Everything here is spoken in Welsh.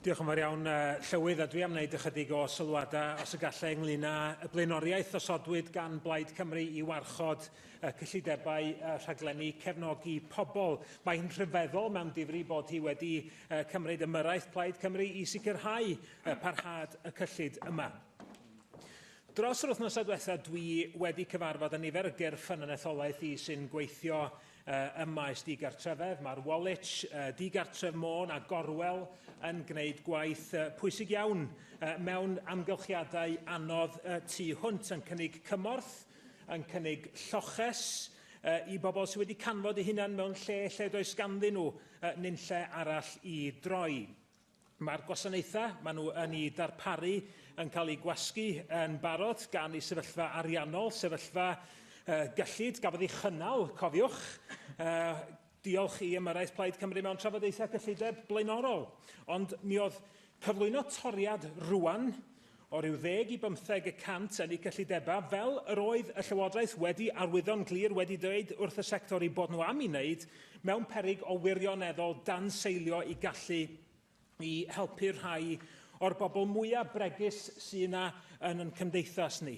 Diolch yn fawr iawn, uh, Llywydd, a dwi am wneud ychydig o sylwadau, os y gallai, ynglyn â y blaenoriaeth osodwyd gan Blaid Cymru i warchod y cyllidebau uh, rhaglenni cefnogi pobl. Mae hi'n rhyfeddol mewn difri bod hi wedi uh, cymryd ymyrraeth Plaid Cymru i sicrhau uh, parhad y cyllid yma. Dros yr wythnosau diwethaf, dwi wedi cyfarfod â nifer o gyrff ffynonellolaeth i sy'n gweithio Ym maes digartrefedd, mae'r Woolwich, Digartref Môn a Gorwel yn gwneud gwaith pwysig iawn mewn amgylchiadau anodd tu hwnt, yn cynnig cymorth, yn cynnig lloches i bobl sydd wedi canfod eu hunain mewn lle lle does ganddyn nhw nunlle arall i droi. Mae'r gwasanaethau maen nhw yn ei darparu yn cael eu gwasgu yn barod gan ei sefyllfa ariannol, sefyllfa uh, gyllid, gafodd ei chynnal, cofiwch, uh, diolch i ymyrraeth Plaid Cymru mewn trafodaethau cyllideb blaenorol. Ond mi oedd cyflwyno toriad rwan o ryw ddeg i bymtheg y cant yn eu cyllidebau, fel yr oedd y Llywodraeth wedi arwyddo'n glir wedi dweud wrth y sector eu bod nhw am ei wneud, mewn peryg o wirioneddol danseilio i gallu i helpu'r rhai o'r bobl mwyaf bregus sydd yna yn ein cymdeithas ni.